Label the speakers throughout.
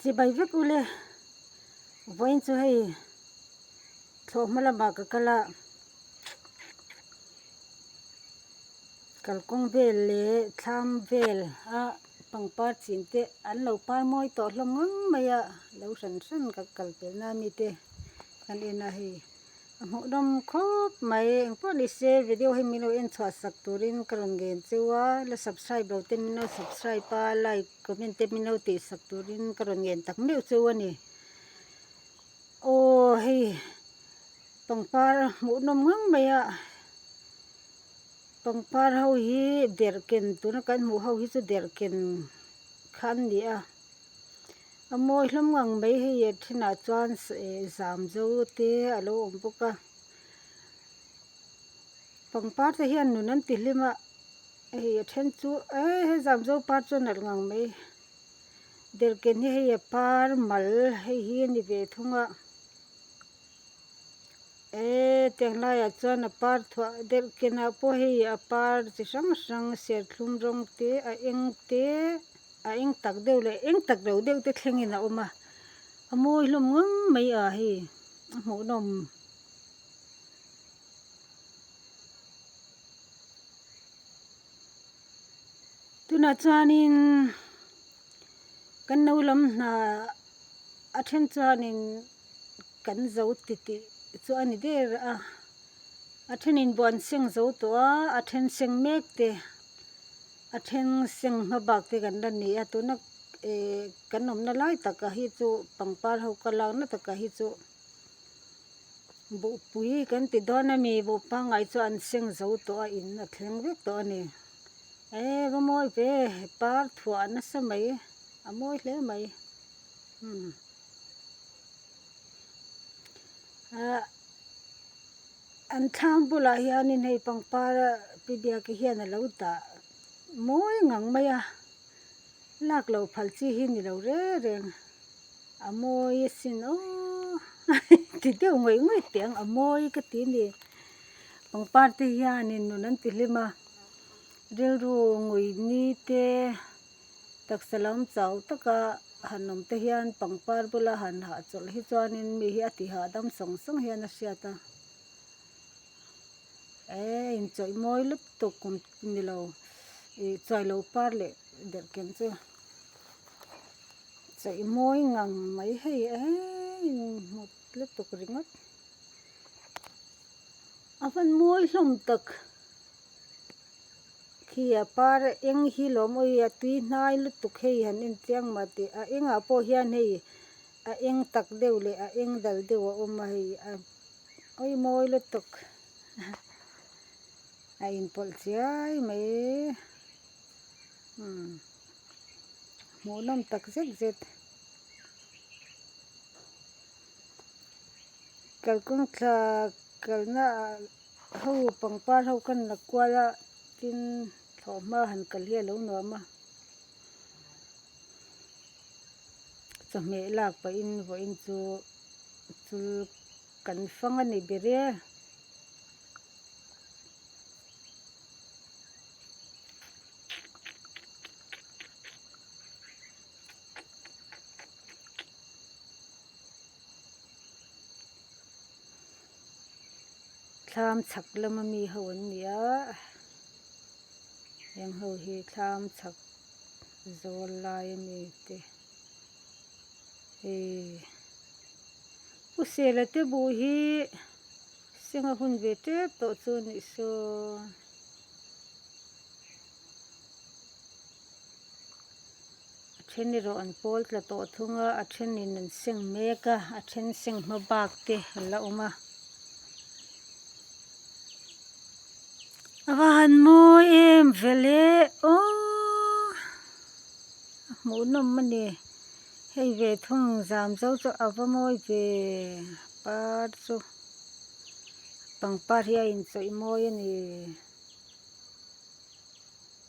Speaker 1: Chibai vek u le. Vawiin chu hei thlawh hma lamah ka kal a, kalkawng vel leh thlam vel a pangpar chhin te an lo par mawi tawh hlawm ngang mai a, lo hran hran ka kalpelh nan mite kan en a hei. a hmuhdawm khawp mai engpawh nise video hi milo en chhuah sak turin ka rawn gen cheu a la subscribe lo te mino subscribe a like comment te mino tih sak turin ka rawn ngen tak meuh cheu a ni aw hei pangpar hmuhnawm ngang mai a pangpar ho hi derhken tuna kan hmuh ho hi chu derhken kha an ni a. a mawi hlawm ngang mai hei a thinah chuan eh zam zo te a lo awm bawk a pangpar te hian nun an ti hlim a hei a then chu eh he zam zo par chu a nalh ngang mai derhken hi hei a par mal hei hi a ni ve thung a eh tiang lai ah chuan a par thuah derhken ah pawh hei a par chi hrang hrang serthlum rawng te a eng te-- A eng tak deuh leh eng tak lo deuh te thlengin a awm a, a mawi hlawm ngam mai a hi a hmuhnawm tunah chuanin kan no lam hna a then chuanin kan zo ti tih chu a ni der a, a thenin buan seng zo tawh a, a then seng mek te. A then seng hma bak te kan la ni a tuna ehh kan awmna lai takah hi chu pangpar ho ka lakna takah hi chu buhpui kan ti dawn a mi buh pangai chu an seng zo tawh a in a thleng vek tawh a ni ehh va mawi ve par thuah nasa mai a mawi hle mai hmm ahh. An thlang bulah hianin hei pangpara pi biakah hian a lo dah mawi ngang mai a, lak lo phal chi hi ni lo reng reng, a mawi asin aw ti deuh ngawih ngawih teh ang, a mawi ka ti a ni. Pangpar te hianin nun an ti hlim a, rilru ngui ni te. Taksa lam chau taka han awm te hian pangpar bula han hah chawlh hi chuanin mi hi a ti hahdam sawng sawng hian a hriat a, ee inchawih mawi lup tuk kum ni lo ih chuai lo par leh derhken chu chawih mawi ngang mai hei eeii inhmut lutuk ringawt a hmanmual hlawm tak. khi a par eng hi lawm awi a tui hnai lutuk hei han en che ang mah teh a engah pawh hian hei a eng tak deuh leh a eng dal deuh a awm a hei a awi mawi lutuk a inpawlh chiai mai umm hmuh nawm tak zet zet kalkawng thla kalna ah. Ka ho pangpar ho ka inla kual a, tin thlawh hma han kal hi a lo nuam a. Chawhmeh lak pahin vawiin chu chul kan fang a ni ber e. thlam chhak lama mi ho an ni a heng ho hi thlam chhak zawl lai a ni te hei usela te buh hi senga hun ve tep tawh chu a nih saw. a then erawh an pawl tla tawh thung a a thenin an seng mek a a then seng hma bak te a la awm a a va han mawi em vele aww a hmuh nawm a ni hei ve thung zam zo chu a va mawi ve par chu pangpar hi a inchawih mawi a ni.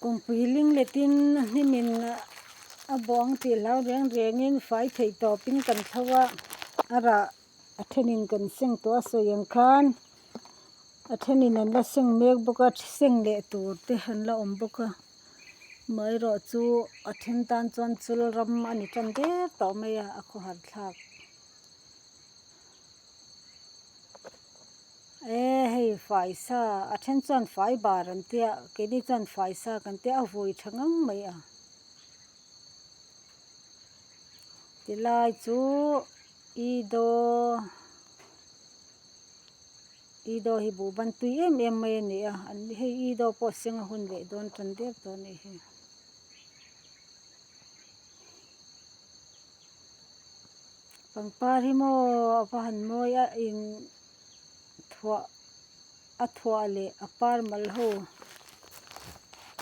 Speaker 1: Kawngpui ling letin a hnimin a bawng tih hlau reng rengin fai theih tawpin kan thlo a, a rah a thenin kan seng tawh a sawi ang khan a thenin an la seng mek bawk a, seng leh tur te an la awm bawk a, amaherawh chu a then tan chuan chul ram a ni tan der tawh mai a, a khawhar thlak. Ee hei faisa, a then chuan fai bar an tia, keini chuan faisa kan tia, a vui tha ngam mai a. Ti lai chu i daw, i daw hi bu bantui em em mai a ni a, an ni hei i daw pawh senga hun leh dawn tan der tawh a nih hi. Pangpar hi maw a va han mawi a in thuah a thuah leh a par mal ho.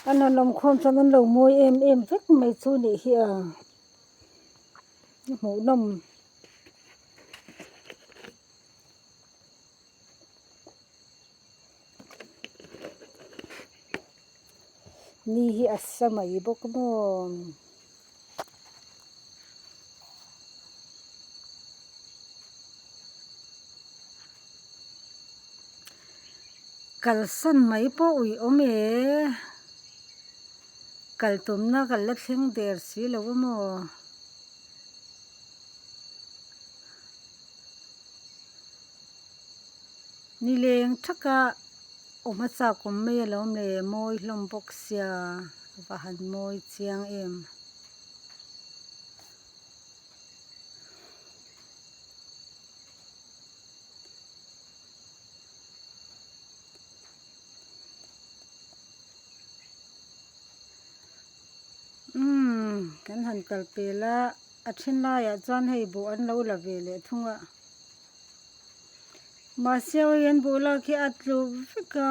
Speaker 1: An han awmkhawm chuan an lo mawi em em vek mai chu nih hi a, i hmuhnawm Ni hi a sa mai bawk maw. Kalsan mai pawh ui awm e. Kaltumna kal la thleng der si lo a maw. Ni leng thaka awm a chak awm mai alawm le mawi hlawm bawk sia va han mawi chiang em. Umm kan han kal pela a then laiah chuan hei bawh an lo la ve leh thung a. Mahse awi hian buhlak hi a tluh vek a,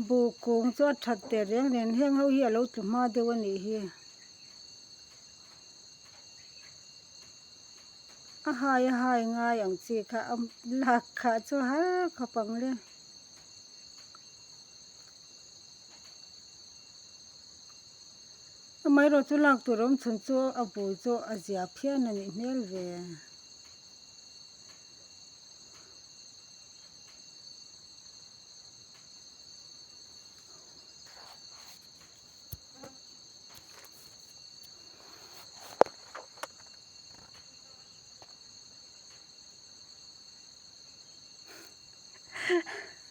Speaker 1: buh kung chu a that der reng reng a, heng ho hi a lo tlu hma deuh a nih hi, a hai a hai ngai ang chi kha a lak kha chu har khawp ang le. Amaherawhchu chu lak tur awm chhun chu a bul chu a zia phian a nih hmel ve.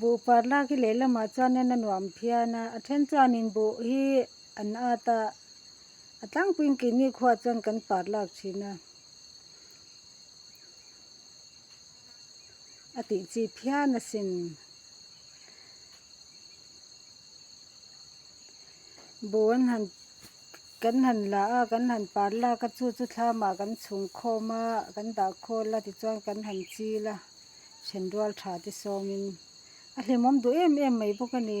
Speaker 1: Buhpar lak hi lehlamah chuan nen a nuam phian a, a then chuanin buh hi an ât a, a tlangpuiin kei nikhuaah chuan kan par lak thin a, a tih chi phian a sin. Buh an han. Kan han la a, kan han par lak a, chu chu thlamah kan chhung khawm a, kan dah khawl a tichuan kan han chil a, ṭhen rual ṭha te sawmin. A hlimawm duh em em mai bawk a ni.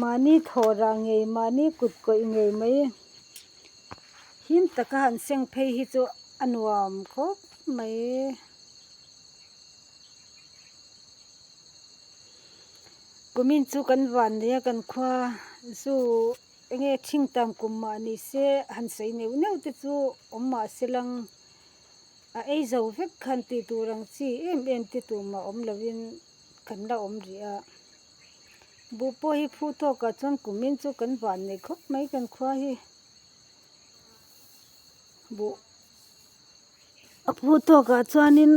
Speaker 1: Mahni thawhrah ngei mahni kut kawih ngei mai him taka han seng phei hi chu a nuam khawp mai kumin chu kan van nei a kan khua zu enge thing tam kum mah ni se han sawi neuh neuh te chu awm mah se lang. a ei zo vek khan tih tur ang chi em em te tumah awm lovin kan la awm rih a, buh pawh hi phu tawkah chuan kumin chu kan van nei khawp mai kan khua hi buh a phu tawkah chuanin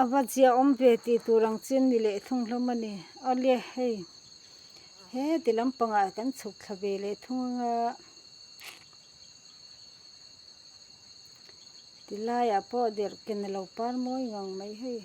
Speaker 1: a va zia awm ve tih tur ang chin ni leh thung hlawm a ni awle hei heti lampangah kan chhuk thla ve leh thung anga. Ti laiah pawh derhken a lo par mawi ngang mai hei.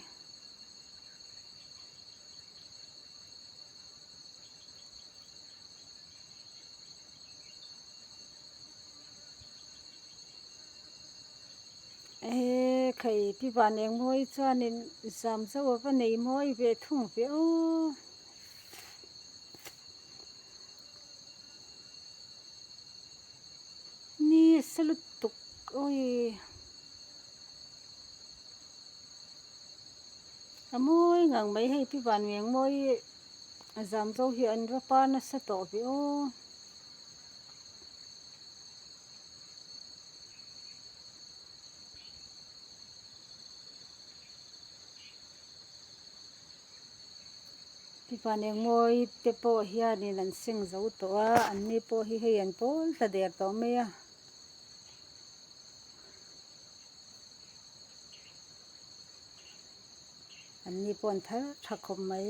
Speaker 1: Ehee khei pi van engmawii chuanin zam zauh ava nei mawi ve thung ve aw. Ni se lutuk awi a mawi ngang mai hei pi vanve ang maw i a zam zo hi an va pa nasa tawh ve aw Tipan engmawi te pawh hian in an seng zo tawh a, an ni pawh hi hei an pawl ta der tawh mai a. An ni pawh an thar tha khawp mai.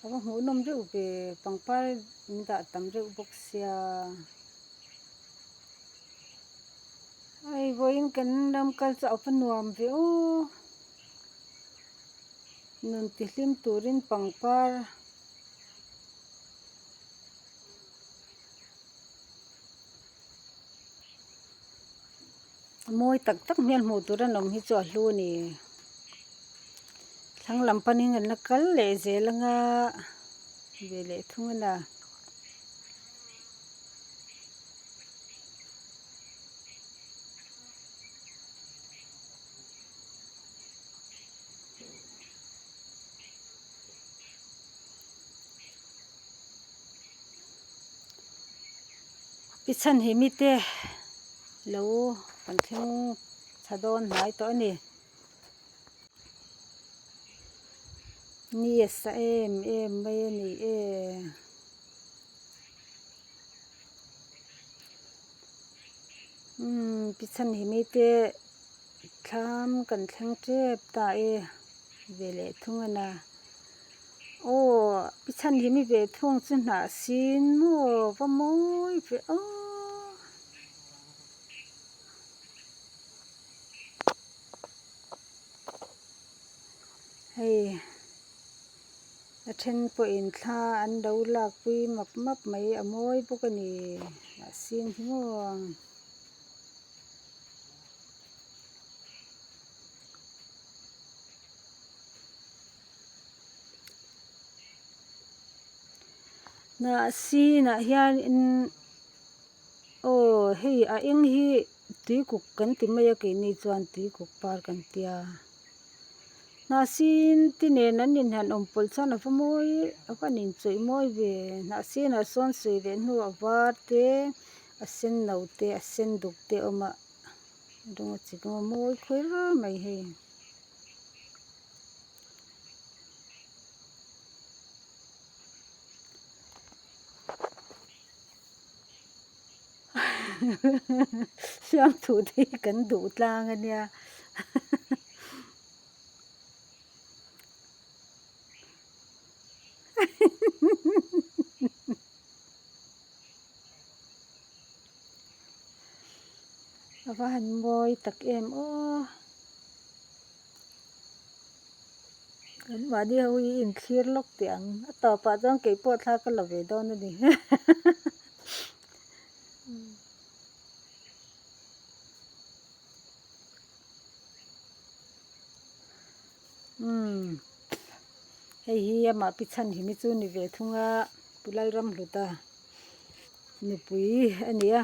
Speaker 1: A va hmuh nawm reuh ve pangpar in dah tam reuh bawk sia. Hei vawiin kan ram kal chu a upa nuam viau nun ti hlim turin pangpar mawi tak tak hmel hmuh tur an awm hi chu a hlu a ni thlang lam panin an la kal leh zel ang a ve leh thung a ni. I chhan hi mite lo kan thleng tha dawn hnai tawh a ni. Yes a em em mai a ni e. Umm Pichanhimi te thlam kan thleng tep ta e ve leh thung a na. Aw Pichanhimi ve thung chu hnah sin maw va mawi ve aw. hei a then pawhin thla an lo lakpui map map mai a mawi bawk a ni mahse an hlim aw ang. Mahse tunah hian in aw hei a eng hi-- Tuikuk kan ti mai a keini chuan tuikuk par kan ti a. Hnahsin ti nen an inhan awm pawlh chuan a va mawi a van in chawih mawi ve. Hnahsinah sawn sawi leh hnu a var te, a senno te, a sen duk te a awm a, a rawng a chi chu a mawi khawih ral mai hei. Suangthute hi kan duh tlang a nia. Ava han mawi tak em aw. Kan mahni ho hi inthlir lawk teh ang a tawpah chuan keipawh thla ka la ve dawn a ni umm hei hi amah pi chhan hi chu ni ve thung a pu Lalram hluta nupui a ni a.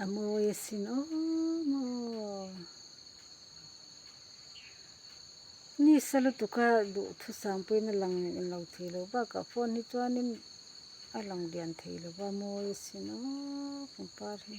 Speaker 1: a mawi asin awm aw nisa lutuka duhthusam sam pawhin a lang leh lo thei lo bakah phone hi chuanin a lang lian thei lo va mawi asin aww pangpar hi.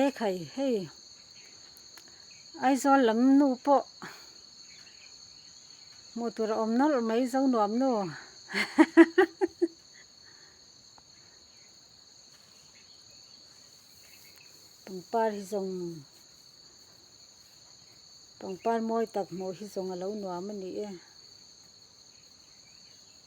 Speaker 1: E khai hei Aizawl lam nu pawh hmuh tur a awm nawlh mai zo nuam nu pangpar hi zawng pangpar mawi tak hmuh hi zawng a lo nuam a ni e.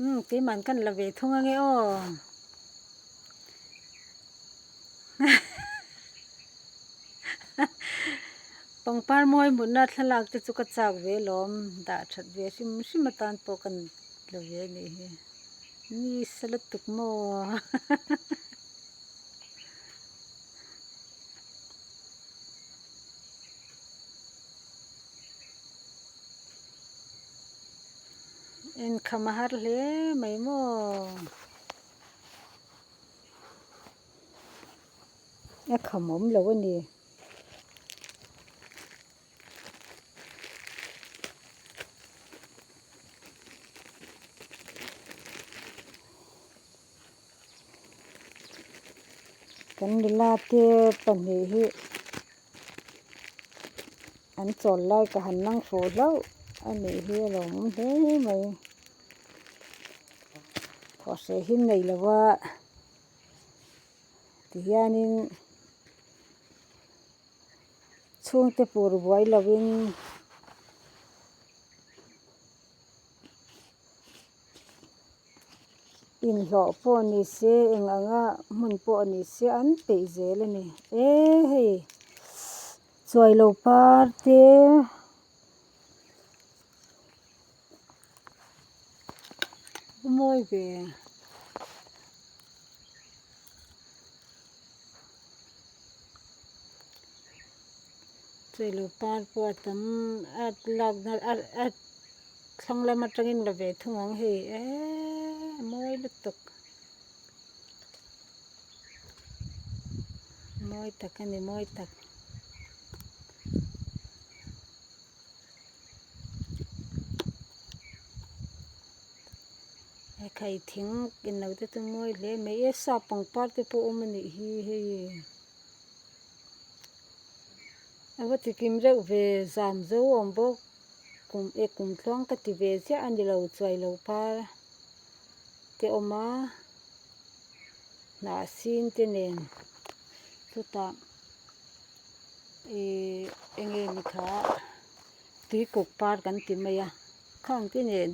Speaker 1: um tui man kan la ve thung ange aw pangpar mawi mutna thlalak te chu ka chak ve lawm dah that ve hrim hrim atan pawh kan la ve a nih hi ni sa lutuk maw Inkham a har hle mai maw? A kham awm lo a ni. Kan nula te pahnih hi. An chawl lai ka han nang fo hlauh a nih hi a lo awm hle mai. Thursday hi nei lo va ti hianin chhungte pur buai lovin inhlawh pawh ni se eng anga hmun pawh ni se an peih zel a ni e hei. Chuai lo par te a mawi ve chuai lo par pawh a tam a lak a thlang lam atangin la ve thung ang hei eeii a mawi lutuk. Mawi tak a ni mawi tak. Hei thing inlo te chu mawi hle mai e sap pangpar te pawh awm a nih hi hei ava tikim reuh ve zam zo awm bawk kum e kum tluang ka ti ve chiah a nilo chuai lo par a. te awm a hnah sin te nen chutah ihh enge ni tha tui kuk par kan ti mai a khang ang te nen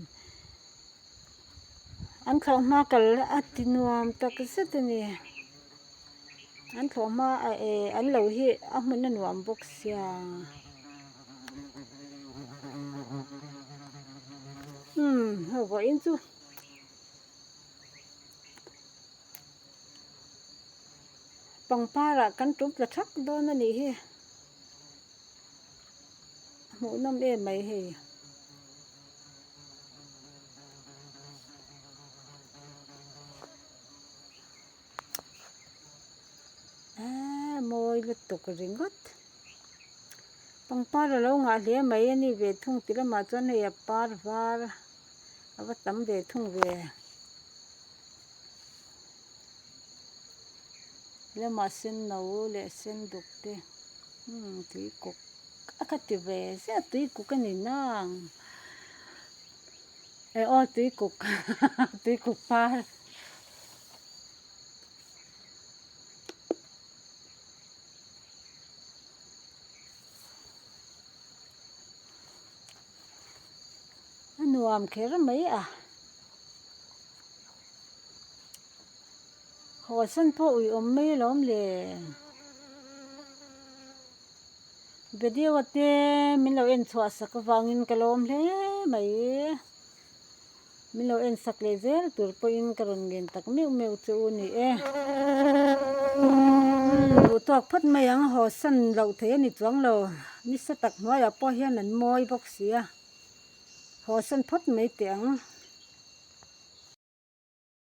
Speaker 1: an thlawh hma kal a ti nuam tak zet a ni an thlawh hma eh an lo hi a hmun a nuam bawk sia. pangpar ah kan tum ta thak dawn a nih hi a hmuh nawm em mai hei. Eee mawi lutuk ringawt. Pangpar a lo ngah hle mai a ni ve thung ti lamah chuan hei a par var a va tam ve thung ve. Lamah senno leh senduk te umm tui kuk a ka ti ve zia tui kuk a ni nawng e aw tui kuk tui kuk par. a nuam kher mai a haw sen pawh ui awm mai a lo awm leh video te min lo en chhuah sak avangin ka lawm hle mai. min lo en sak leh zel tur pawhin ka rawn ngen tak meuh meuh chu u ni e. Umm duh tawk phawt mai ang haw san loh thei a ni chuang lo, nisa tak hnuaiah pawh hian an mawi bawk si a, haw san phawt mai teh ang.